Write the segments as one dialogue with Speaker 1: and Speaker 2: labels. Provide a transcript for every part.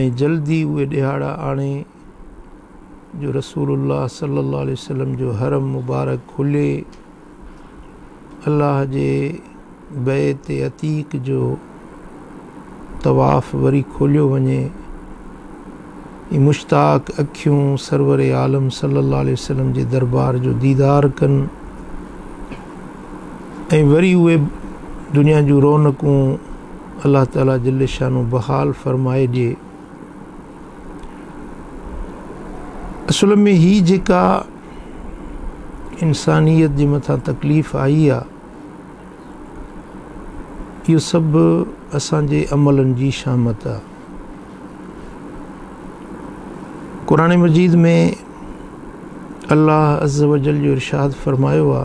Speaker 1: ۽ جلد ئي اهي ڏهاڙا آڻي جو رسول الله صلي الله عليه وسلم جو حرم مبارڪ کلي الله جي بيت عتيق جو طواف وري کوليو وڃي ۽ مشتاق اکيون سرور عالم صلي الله عليه وسلم جي دربار جو ديدار ڪن ۽ وري اهي دنيا جون رونقون الله تعالي جل شانه بحال فرمائي ڏي. اصل ۾ هي جيڪا انسانيت جي مٿان تڪليف آئي آ اهو سڀ اسان جي عملن جي شامت آ قرآن مجيد ۾ الله عز وجل جو ارشاد فرمايو آ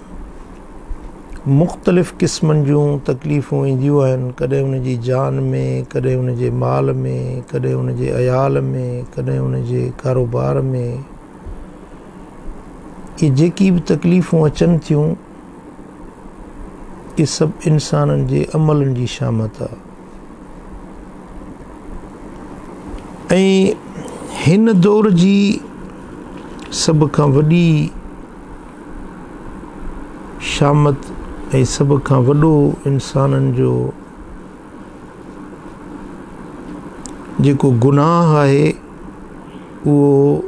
Speaker 1: مختلف قسمن جون تڪليفون اينديون آهن، ڪڏهن ان جي جان ۾، ڪڏهن ان جي مال ۾، ڪڏهن ان جي عيال ۾، ڪڏهن ان جي ڪاروبار ۾. اهي جيڪي به تڪليفون اچن ٿيون، اهي سڀ انسانن جي عملن جي شامت آهي. ۽ هن دور جي سڀ کان وڏي شامت ۽ سڀ کان وڏو انسانن جو جيڪو گناهه آهي اهو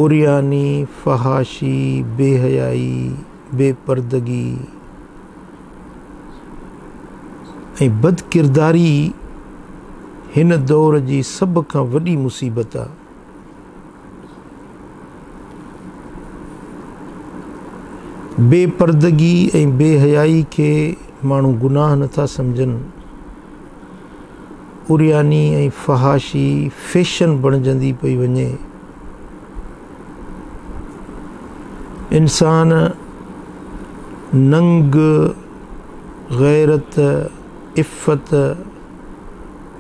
Speaker 1: عرياني، فحاشي، بي حيائي، بي پردگي ۽ بدڪرداري ئي هن دور جي سڀ کان وڏي مصيبت آ. بي پردگي ۽ بي حيائي کي ماڻهو گناهه نه ٿا سمجهن. عرياني ۽ فحاشي فيشن بڻجندي پئي وڃي. انسان ننگ، غيرت، عفت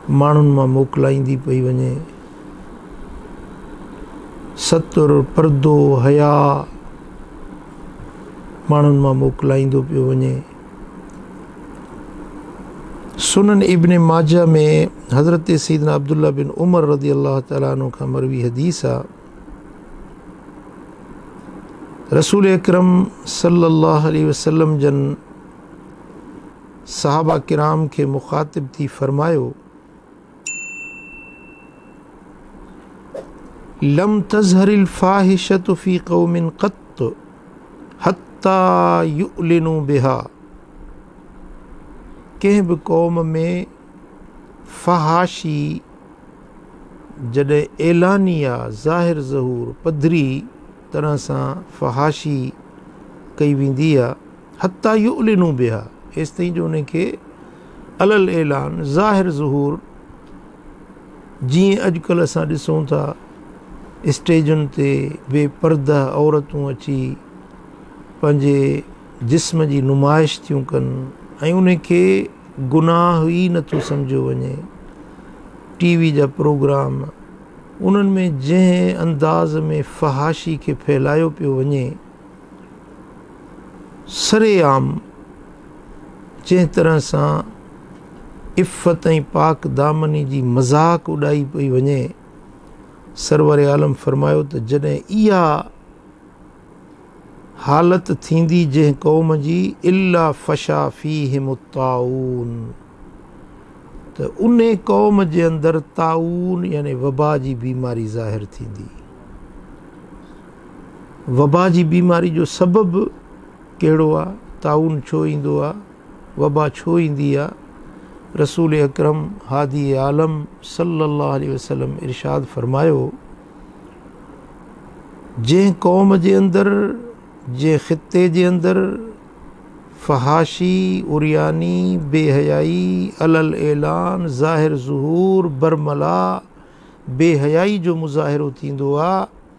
Speaker 1: ماڻهن مان موڪلائيندي پئي وڃي. ستر، پردو، حياء ماڻهن مان موڪلائيندو پيو وڃي. سنن ابن ماجه ۾ حضرت سيدنا عبدالله بن عمر رضي الله تعالٰي عنه کان مروي حديث آ رسول اڪرم صلي الله عليه وسلم جن صحابه ڪرام کي مخاطب ٿي فرمايو لم تظهر الفاحشة في قوم قط حتي يعلنوا بها ڪنهن به قوم ۾ فحاشي جڏهن اعلانيه ظاهر ظهور پڌري طرح سان فحاشي ڪئي ويندي آهي حتي يعلنوا بها ايستائين جو انهن کي علي الاعلان ظاهر ظهور جيئن اڄڪلهه اسان ڏسون ٿا اسٽيجن تي بي پرده عورتون اچي پنهنجي جسم جي نمائش ٿيون ڪن ۽ انهن کي گناهه ئي نٿو سمجهيو وڃي ٽي وي جا پروگرام انهن ۾ جنهن انداز ۾ فحاشي کي ڦهلايو پيو وڃي سري عام جنهن طرح سان عفت ۽ پاڪ دامني جي مذاق اڏائي پئي وڃي سرور عالم فرمايو ته جڏهن اها حالت ٿيندي جنهن قوم جي الا فشا فيهم الطاعون ته ان قوم جي اندر طاعون يعني وبا جي بيماري ظاهر ٿيندي وبا جي بيماري جو سبب ڪهڙو آ؟ طاعون ڇو ايندو آ؟ وبا ڇو ايندي آ؟ رسول اڪرم هادي عالم صلي الله عليه وسلم ارشاد فرمايو، جنهن قوم جي اندر، جنهن خطي جي اندر فحاشي، عرياني، بي حيائي، علي الاعلان، ظاهر ظهور، برملا، بي حيائي جو مظاهرو ٿيندو آ،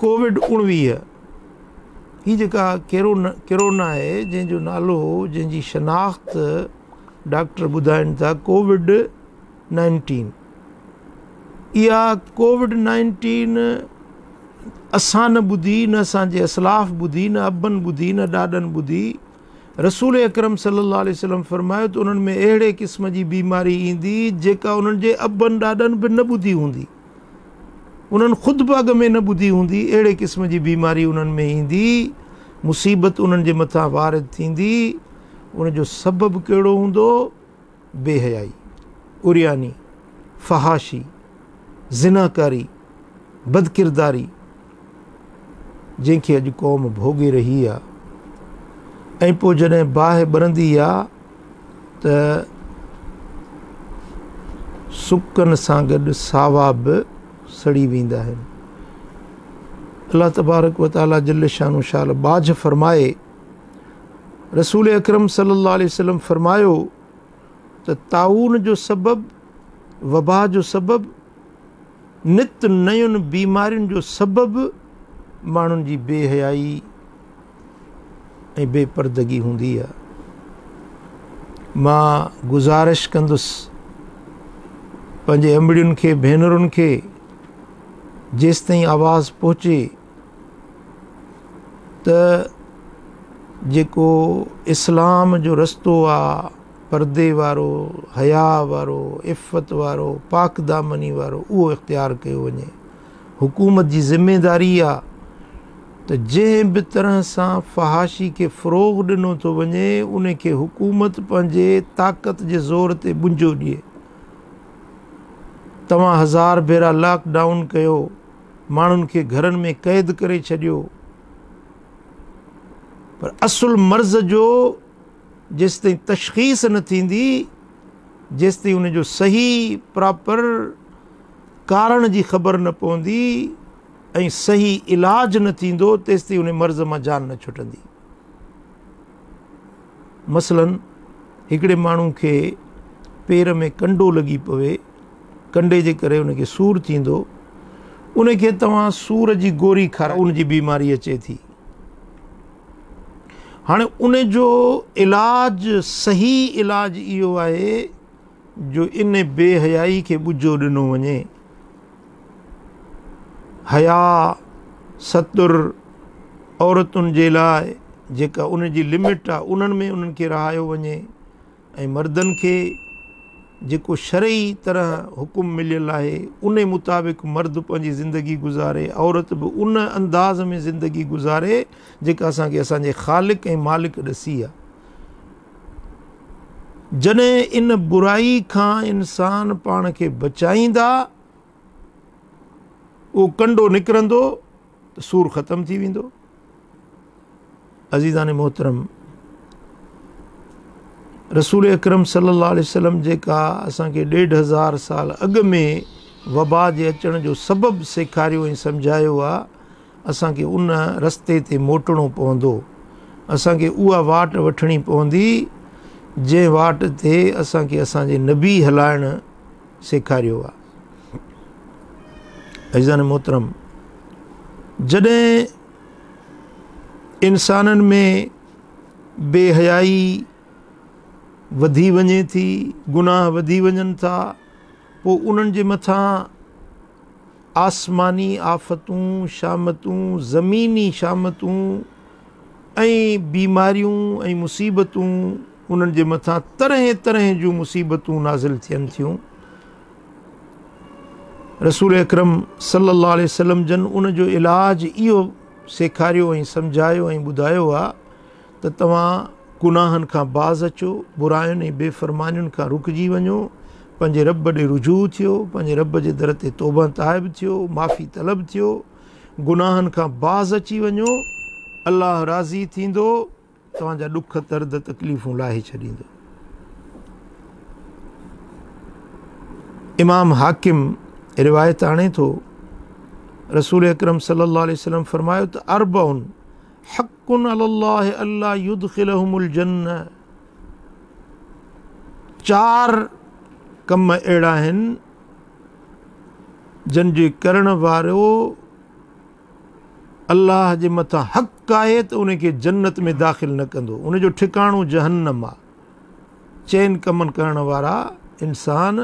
Speaker 1: ڪووڊ اوڻويهه هي جيڪا ڪيرونا آهي جنهن جو نالو جنهن جي شناخت ڊاڪٽر ٻڌائين ٿا ڪووڊ نائنٽين اها ڪووڊ نائنٽين اسان نه ٻڌي نه اسانجي اسلاف ٻڌي نه ابن ٻڌي نه ڏاڏن ٻڌي رسول اڪرم صلي الله عليه وسلم فرمايو ته انهن ۾ اهڙي قسم جي بيماري ايندي جيڪا انهن جي ابن ڏاڏن به نه ٻڌي هوندي انهن خود به اڳ ۾ نه ٻڌي هوندي، اهڙي قسم جي بيماري انهن ۾ ايندي، مصيبت انهن جي مٿان وارد ٿيندي، ان جو سبب ڪهڙو هوندو؟ بي حيائي، عرياني، فحاشي، زناڪاري، بدڪرداري. جنهن کي اڄ قوم ڀوڳي رهي آ ۽ پوء جڏهن باهه ٻرندي آ ته سڪن سان گڏ ساوا به سڙي ويندا آهن. الله تبارڪ و تعالي جل شان و شال ٻاجهه فرمائي رسول اڪرم صلي الله عليه وسلم فرمايو ته طاعون جو سبب وبا جو سبب نت نيون بيمارين جو سبب ماڻهن جي بي حيائي ۽ بي پردگي هوندي آهي مان گزارش ڪندس پنهنجي امڙين کي ڀينرن کي جيستائين آواز پهچي ته جيڪو اسلام جو رستو آهي پردي وارو، حياء وارو، عفت وارو، پاڪ دامني وارو اهو اختيار ڪيو وڃي. حڪومت جي ذميواري آ ته جنهن به طرح سان فحاشي کي فروغ ڏنو ٿو وڃي ان کي حڪومت پنهنجي طاقت جي زور تي ٻنجو ڏئي. توهان هزار ڀيرا لاڪ ڊائون ڪيو، ماڻهن کي گهرن ۾ قيد ڪري ڇڏيو پر اصل مرض جو جيستائين تشخيص نه ٿيندي جيستائين ان جو صحيح پراپر ڪارڻ جي خبر نه پوندي ۽ صحيح علاج نه ٿيندو تيستائين ان مرض مان جان نه ڇٽندي مثلا هڪڙي ماڻهو کي پير ۾ ڪنڊو لڳي پوي ڪنڊي جي ڪري ان کي سور ٿيندو ان کي توهان سور جي گوري کارا ان جي بيماري اچي ٿي هاڻي ان جو علاج صحيح علاج اهو آهي جو ان بي حيائي کي ٻجهو ڏنو وڃي حيا ستر عورتن جي لاء جيڪا ان جي لمٽ آهي انهن ۾ انهن کي رهايو وڃي ۽ مردن کي جيڪو شرعي طرح حڪم مليل آهي ان مطابق مرد پنهنجي زندگي گذاري عورت به ان انداز ۾ زندگي گذاري جيڪا اسان کي اسان جي خالق ۽ مالڪ ڏسي آهي جڏهن ان برائي کان انسان پاڻ کي بچائيندا اهو ڪنڊو نڪرندو ته سور ختم ٿي ويندو. عزيزان محترم رسول اڪرم صلي الله عليه وسلم جيڪا اسان کي ڏيڍ هزار سال اڳ ۾ وبا جي اچڻ جو سبب سيکاريو ۽ سمجهايو آ اسان کي ان رستي تي موٽڻو پوندو اسان کي اها واٽ وٺڻي پوندي جنهن واٽ تي اسان کي اسان جي نبي هلائڻ سيکاريو آ عزيزان محترم جڏهن انسانن ۾ بي حيائي وڌي وڃي ٿي گناهه وڌي وڃن ٿا پوء انهن جي مٿان آسماني آفتون شامتون زميني شامتون ۽ بيماريون ۽ مصيبتون انهن جي مٿان طرحين طرحين جون مصيبتون نازل ٿين ٿيون. رسول اڪرم صلي الله عليه وسلم جن ان جو علاج اهو سيکاريو ۽ سمجهايو ۽ ٻڌايو آهي ته توهان گناهن کان باز اچو، براين ۽ بي فرمانين کان رڪجي وڃو، پنهنجي رب ڏي رجوع ٿيو، پنهنجي رب جي در تي توبهه تائب ٿيو، معافي طلب ٿيو، گناهن کان باز اچي وڃو، الله راضي ٿيندو. توهان جا ڏک درد تڪليفون لاهي ڇڏيندو. امام حاڪم روايت آڻي ٿو رسول اڪرم صلي الله عليه وسلم فرمايو ته اربع حق علی الله الا يدخلهم الجنه چار ڪم اهڙا آهن جن جي ڪرڻ وارو الله جي مٿان حق آهي ته ان کي جنت ۾ داخل نه ڪندو ان جو ٺڪاڻو جهنم آ چئن ڪمن ڪرڻ وارا انسان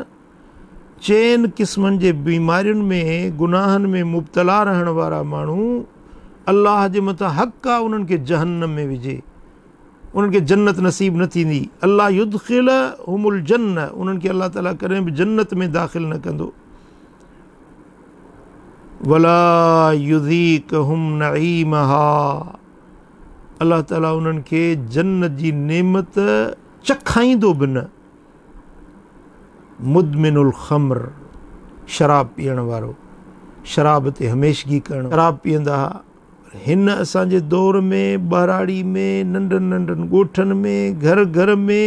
Speaker 1: چئن قسمن جي بيمارين ۾ گناهن ۾ مبتلا رهڻ وارا ماڻهو الله جي مٿان حق آ انهن کي جهنم ۾ وجهي انهن کي جنت نصيب نه ٿيندي الله يدخل هم الجنه انهن کي الله تعاليٰ ڪڏهن به جنت ۾ داخل نه ڪندو ولا يذيقهم نعيمها الله تعالي انهن کي جنت جي نعمت چکائيندو به نه مدمن الخمر شراب پيئڻ وارو شراب تي هميشگي ڪرڻ شراب پيئندا ها هن اسان جي دور ۾ ٻهراڙي ۾ ننڍن ننڍن ڳوٺن ۾ گهر گهر ۾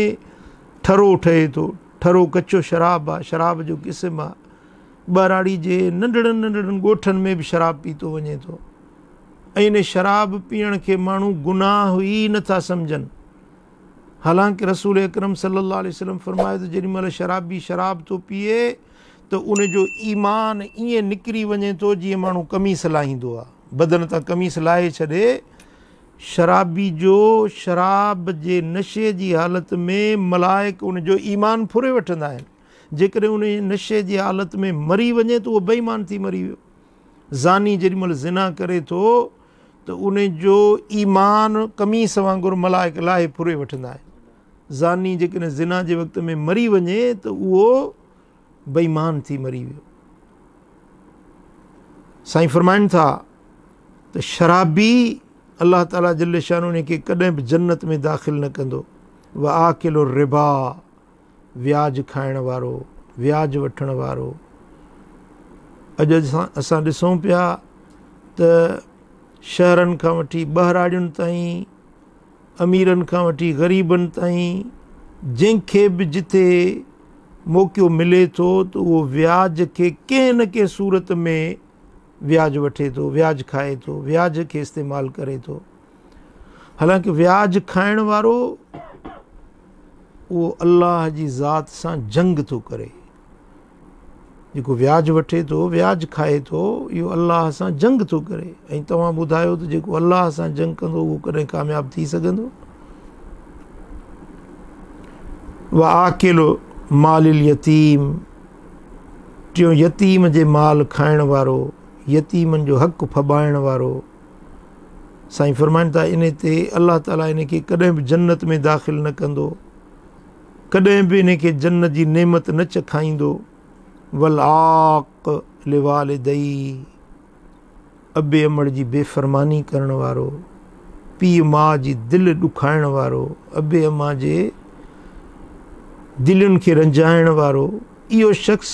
Speaker 1: ٺرو ٺهي ٿو ٺرو ڪچو شراب آ شراب جو قسم آ ٻهراڙي جي ننڍڙن ننڍڙن ڳوٺن ۾ به شراب پيتو وڃي ٿو ۽ ان شراب پيئڻ کي ماڻهو گناهه ئي نه ٿا سمجهن حالانڪه رسول اڪرم صلي الله عليه وسلم فرمايو ته جيڏي مهل شرابي شراب ٿو پيئي ته ان جو ايمان ائين نڪري وڃي ٿو جيئن ماڻهو قميص لاهيندو آهي بدن تان قميص لاهي ڇڏي شرابي جو شراب جي نشي جي حالت ۾ ملائڪ ان جو ايمان ڦري وٺندا آهن جيڪڏهن انهيء نشي جي حالت ۾ مري وڃي ته اهو بي ايمان ٿي مري ويو. زاني جيڏي مهل زنا ڪري ٿو ته ان جو ايمان قميص وانگر ملائڪ لاهي ڦري وٺندا آهن. زاني جيڪڏهن زنا جي وقت ۾ مري وڃي ته اهو بي ايمان ٿي مري ويو. سائين فرمائن ٿا ته شرابي الله تعالي جل شانه ان کي ڪڏهن به جنت ۾ داخل نه ڪندو. واڪل الربا وياج کائڻ وارو، وياج وٺڻ وارو. اڄ اسان ڏسون پيا ته شهرن کان وٺي ٻهراڙين تائين، اميرن کان وٺي غريبن تائين جنهن کي به جتي موقعو ملي ٿو ته اهو وياج کي ڪنهن نه ڪنهن صورت ۾ وياج وٺي ٿو، وياج کائي ٿو، وياج کي استعمال ڪري ٿو. حالانڪه وياج کائڻ وارو اهو الله جي ذات سان جنگ ٿو ڪري. جيڪو وياج وٺي ٿو، وياج کائي ٿو، اهو الله سان جنگ ٿو ڪري ۽ توهان ٻڌايو ته جيڪو الله سان جنگ ڪندو اهو ڪڏهن ڪامياب ٿي سگهندو؟ وآڪل مال اليتيم ٽيون يتيم جي مال کائڻ وارو، يتيمن جو حق ڦٻائڻ وارو. سائين فرمائن ٿا ان تي الله تعالي ان کي ڪڏهن به جنت ۾ داخل نه ڪندو ڪڏهن به ان کي جنت جي نعمت نه چکائيندو ولاق لوالدئي ابي امڙ جي بي فرماني ڪرڻ وارو پي ماء جي دل ڏکائڻ وارو ابي اما جي دلين کي رنجائڻ وارو اهو شخص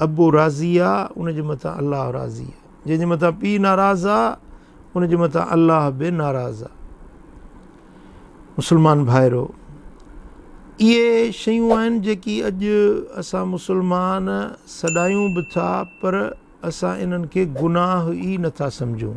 Speaker 1: ابو راضي آ، ان جي مٿان الله راضي آ. جنهن جي مٿان پيء ناراض آ، ان جي مٿان الله به ناراض آ. مسلمان ڀائرو! اهي شيون آهن جيڪي اڄ اسان مسلمان سڏايون به ٿا پر اسان انهن کي گناهه ئي نٿا سمجهون.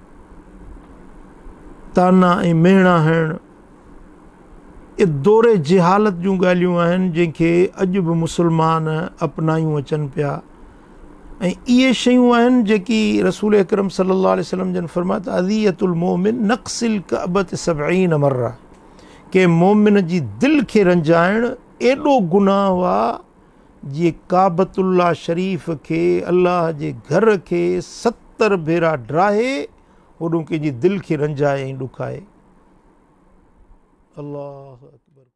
Speaker 1: طعنا ۽ مهڻا هڻڻ اهي دور جهالت جون ڳالهيون آهن جنهن کي اڄ به مسلمان اپنايون اچن پيا ۽ اهي شيون آهن جيڪي رسول اڪرم صلي الله عليه وسلم جن فرمايو ته اذيت المؤمن نقص الكعبه سبعين مره ڪنهن مؤمن جي دل کي رنجائڻ ايڏو گناهه آ جي ڪعبت الله شريف کي الله جي گهر کي ستر ڀيرا ڊاهي هوڏون ڪنهن جي دل کي رنجائي ۽ ڏکائي. الله اڪبر.